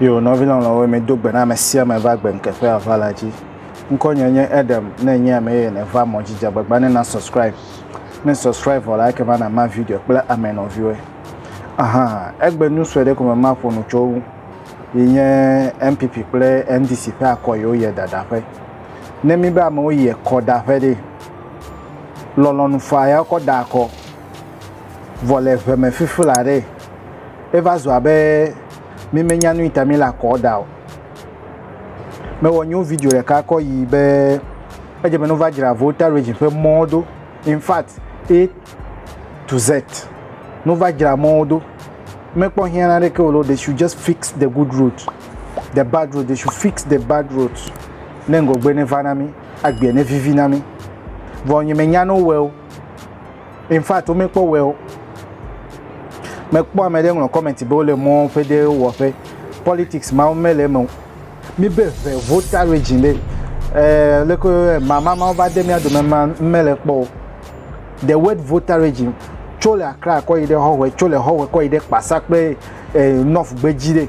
Yo nɔvi lɔlɔ̃wo mi do gbe na ame sia ame va gbe ŋkeƒe ava la dzi. Ŋkɔ nye nye Edem ne nye ame ye ne va mɔ dzidzia gbagba ne na subscribe. Ne subscribe vɔ la eke va na ma video kple ame nɔviwo. Aha, egbe nu sue ɖe ko me ma ƒo nu tso wu. Yi nye MPP kple NDC ƒe akɔ yi wo yɛ dadaƒe. Ne mi be amewo yɛ kɔ daƒe ɖe, lɔlɔ̃nu faa ya wokɔ da akɔ vɔ le ŋe me fifi la ɖee. Eva zu abe mí me nya nuyi ta mí le akɔ da o. Me wɔ nyo video ɖeka kɔ yi be edze be no va dzra Volta Region ƒe mɔwo do. In fact A to Z no va dzra mɔwo do. Me kpɔ hiã na ɖeke o lo they should just fix the good road. The bad road they should fix the bad road ne ŋgɔgbe ne va na mí. Agbea ne vivi na mi. Vɔ nye me nya no weo. In fact, wo me kpɔ weo. Me kpɔ ame ɖe ŋlɔ comment be wo le mɔ ƒe ɖe wɔ ƒe. Politics ma wo me le me. Mi be ve vota region le. Eh, le ko eh, mama ma va de mi ado me ma me le kpɔ. The word vota region tso le akra kɔ yi de hɔ wɛ, tso le hɔ wɛ kɔ yi de kpasa kple eh, north gbeji de.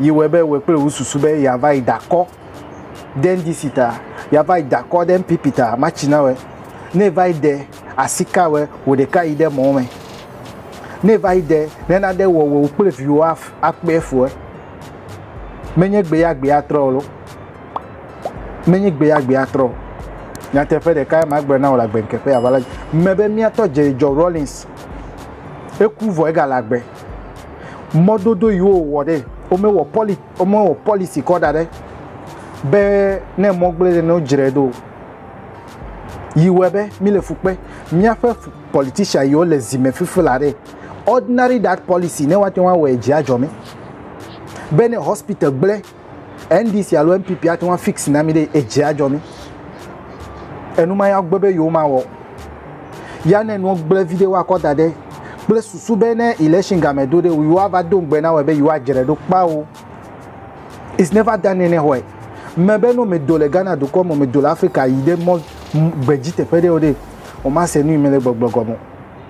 yi wɔe be wòe kple wò susu be yeava yi dakɔ ɖe NDC ta, yeava yi dakɔ ɖe NPP ta, matsi na wɔe. Ne va yi ɖe asi ka wɔe, wò ɖeka yi ɖe mɔ me. Ne va yi ɖe ne naɖe wɔ wò kple viwò akpe fue. Menye gbe ya gbe atrɔ o lo. Menye gbe ya gbe atrɔ o. nyateƒe ɖeka ma gblɔ na wò le agbe ŋkeƒe aʋala dzi me be mía tɔ Jerry John Rawlings eku vɔ egale agbe mɔdodo yi wowɔ ɖe womewɔ pɔli womewɔ pɔlisi kɔ da ɖe be ne mɔ gblẽ ɖe ne wodzrae ɖo yi wɔe be mi le fu kpe míaƒe politisian yiwo le zi me fifi la ɖe ordinary that pɔlisi ne woate ŋu awɔe dzi adzɔ mi be ne hospital gblẽ. NDC alo NPP ate ŋu afix na mi ɖe edzi adzɔ mi. Enuma ya gbe be yewo mawɔ. Ya ne nua gblẽ vi ɖe woakɔ da ɖe kple susu be ne election game do ɖe yewo ava do ŋugbe na wɔ be yewo adzre ɖo kpao. It's never done anywhere. Me be no me do le Ghana dukɔ me, me do le Africa yi ɖe mɔ gbedzi teƒe ɖe o ɖe, o ma se nu yi me le gbɔgblɔ gɔme.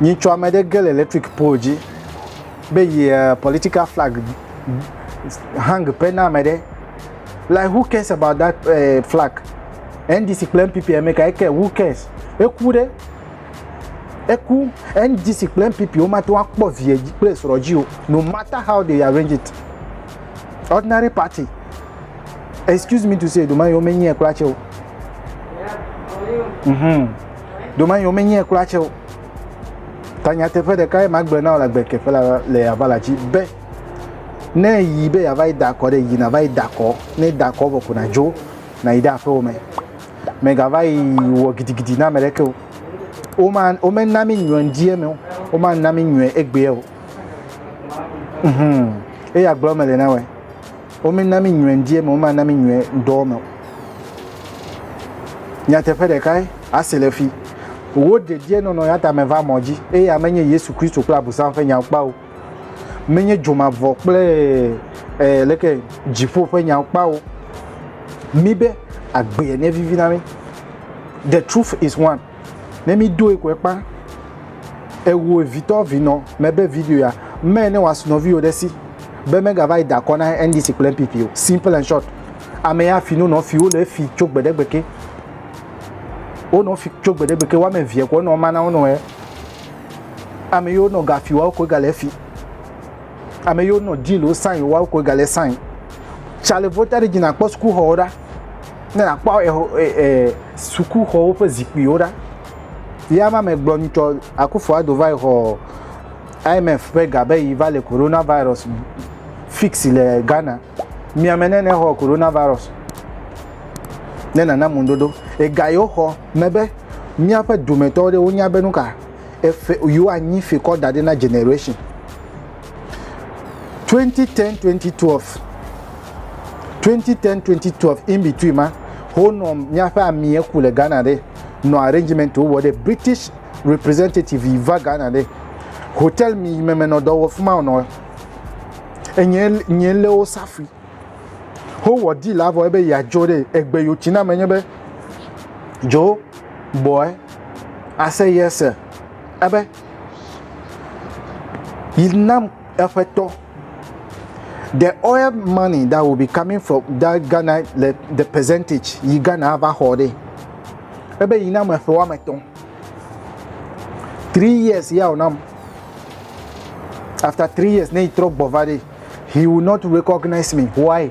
Nyitsɔ ame ɖe ge le electric pol dzi be yi eh, political flag hang ƒe na ame ɖe. Like who cares about that uh, flag? NDC kple NPP ame ka eke who cares? Eku ɖe eku NDC kple NPP womate ŋu akpɔ vie kple srɔ̃ dzi o no matter how they arrange it. Ordinary party excuse me to say ɖoma yewo menyae kura tsɛ o. Mm-hmm. Domanyo menyɛ kura tsɛ o. Ta nyateƒe ɖeka ye magblɔ na wò le agbekeƒe la le yava la dzi be ne yi be yava yi da akɔ ɖe yi nava yi da akɔ ne da akɔ vɔ ko nadzo nayi ɖe aƒewo me megava yi wɔ gidigidi na ame ɖeke o woma womena mi nyɔ ŋdi eme o womana mi nyɔ egbea o mhm eya gblɔ mele na wɔe. Womena mí nyuie ŋdi eme, womana mí nyuie ŋdɔ me. Nyateƒe ɖekae asi le fi. Wo dedienɔnɔ ya ta meva mɔ dzi eye ame nye Yesu Kristo kple Abosam ƒe nyawo kpawo. Menye dzomavɔ kple eh, leke dziƒo ƒe nyawo kpawo. Mi be agbee ne vivi na mi. The truth is one. Ne mi doe koe kpa. Ewu evitɔ vinɔ mebe video ya me ne was nɔviwo ɖe si be mega va yi da kɔ na NDC kple NPP o. Simple and short. Ame ya fi no nɔ fi wo le fi tso gbedegbe ke. Wo nɔ fi tso gbedegbe ke wame vie ko nɔ mana wo nɔ ye. Ame yo nɔ ga fi wa ko ga le fi. Ame yo nɔ deal wo sign wa ko ga le sign. Chale vota de jina kpɔ school hɔ da. Ne àkpɔ exɔ ee sukuxɔwo ƒe zikpuiwo ɖa. Ya ma me gblɔ nyitsɔ Akufo Addo va yi xɔ IMF ƒe ga be yi va le corona virus fix le Ghana. Miame ne ne xɔ corona virus ne nana mu ŋuɖoɖo. Ega yi woxɔ me be míaƒe dumetɔ ɖewo nya be nuka efe yi woanyi fikɔ da ɖe na generation. 2010 2012 2010 2012 in between ma honɔ míaƒe amie ku le ghana ɖe nɔ arrangement wowɔ ɖe british representative yi va ghana ɖe hotel mi yi meme nɔ dɔ wɔ fi ma nɔ enye nye lé wo safui howɔ deal avɔ ebe yeadzɔ ɖe egbe yotsi na me nye be dzo bɔe ase yese ebe Yi nam eƒetɔ. The oil money that will be coming from that Ghana le the percentage yi Ghana ava xɔ ɖe. Ebe yi nam eƒe woame etɔ̃. Three years ya wònam. After three years ne yi trɔ gbɔ va ɖe. He will not recognize me. Why?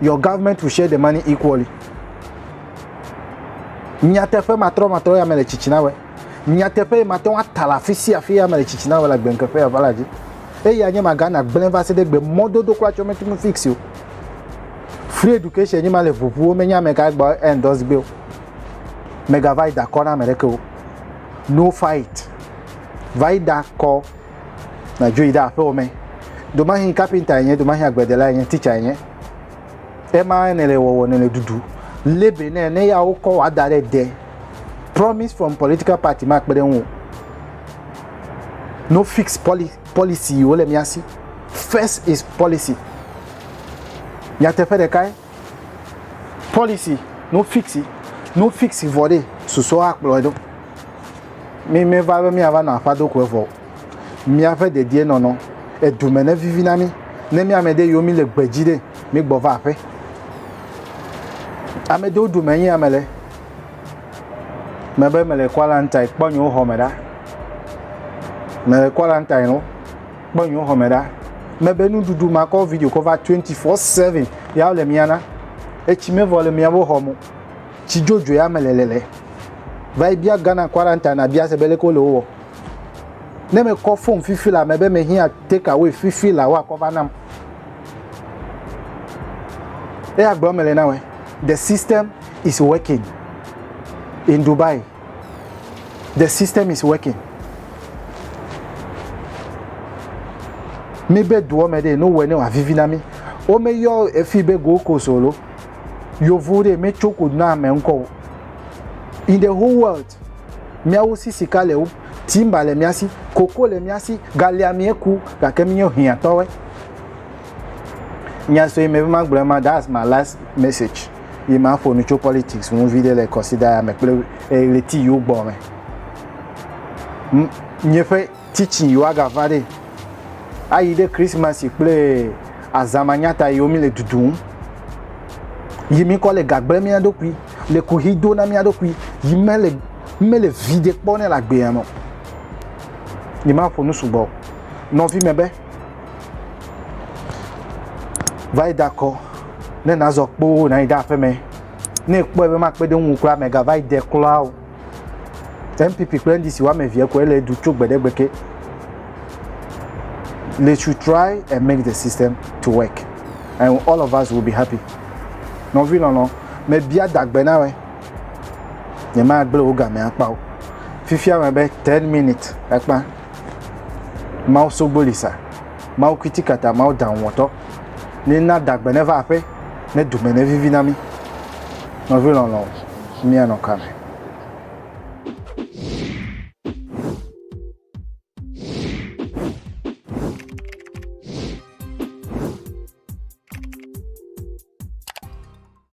Your government will share the money equally. Nyateƒe matrɔmatrɔ ya me le tsitsina wɛ. Nyateƒe yi mate ŋu ata le afi sia afi ya me le tsitsina wɛ le agbenkeƒe ya va la dzi. Eya nye magana gblẽ va se ɖe gbe mɔdodo kura tsɔ metu nu fix o. Free education nye ma le ʋuʋuwo menye ame ka gbɔ endorse gbe o. Megava yi dakɔ na ame ɖeke o. No fight. Va yi dakɔ Nadzo yi ɖe aƒewo me. Domahi kapinta enye, domahi agbledela enye, titsa enye. Ema ne le wɔwɔ ne le dudu. Lebe ne ne ya wokɔ wa da ɖe de. Promise from political party ma kpe ɖe ŋu. No fixed poli policy yi wole mia si. First is policy. Nyateƒe ɖekae. Policy no fixi no fixi vɔ ɖe susɔ akplɔe ɖo. Mi mi va be mi ava nɔ aƒa do ko evɔ. Mi ave dedie nɔ nɔ edu me ne vivi na mi. Ne mi ame de yo mi le gbeji ɖe mi gbɔ va aƒe. Ame de du me nyi ame le. Me be me le quarantine kpɔ nyo xɔ me ɖa. Me le quarantine no. kpɔ nyo xɔme ɖa mebe nuɖuɖu makɔ video kɔ va 24/7 ya le mia na etsi mevɔ le mia bo xɔmo tsi jojo ya me le le le va yi bia Ghana quarantine na bia se bele ko le wo ne me kɔ phone fifi la mebe me hia take away fifi la wa kɔ va nam e ya gblɔ me le na we the system is working in Dubai The system is working. Mi be duɔ me ɖe no wɔ ne wòavivi na mi. Womeyɔ efi be Gold Coast o lo. Yovo ɖe metso ko na ame ŋkɔ o. In the whole world, miawo si sika le wo, timba le mia si, koko le mia si, galia mieku gake mi nyo hiãtɔwe. Nya sue me be magblɔ ema, that's my last message. ye ma ƒo nu tso politics ŋu vi ɖe le kɔsida ya me kple ɣleti yiwo gbɔ me nye ƒe teaching yiwo aga va ɖe ayi ɖe christmas kple azama nyata yiwo mi le dudum yi mi kɔ le gagbe mia ɖokui le kuhi do na mia ɖokui yi me le me le vi ɖe kpɔ ne le agbea me yi ma ƒo nu sugbɔ nɔvi me be va yi dakɔ ne nazɔ kpoo na yi ɖe aƒeme ne kpɔe be makpe ɖe ŋu kura megava yi de kura o npp kple ndc woame evee koe le du tso gbe ɖe gbe ke they should try and make the system to work and all of us will be happy nɔvi lɔlɔ mebia dagbe na wɛ nyemagblẽ wo game akpa o fifia me be ten minutes ekpa Mawu sogboli sa, Mawu kitikata, Mawu daŋuwɔtɔ, ne na dagbe neva aƒe, ne dome nevivi na mí. Nɔvi lɔlɔ̃, míanɔ ka me?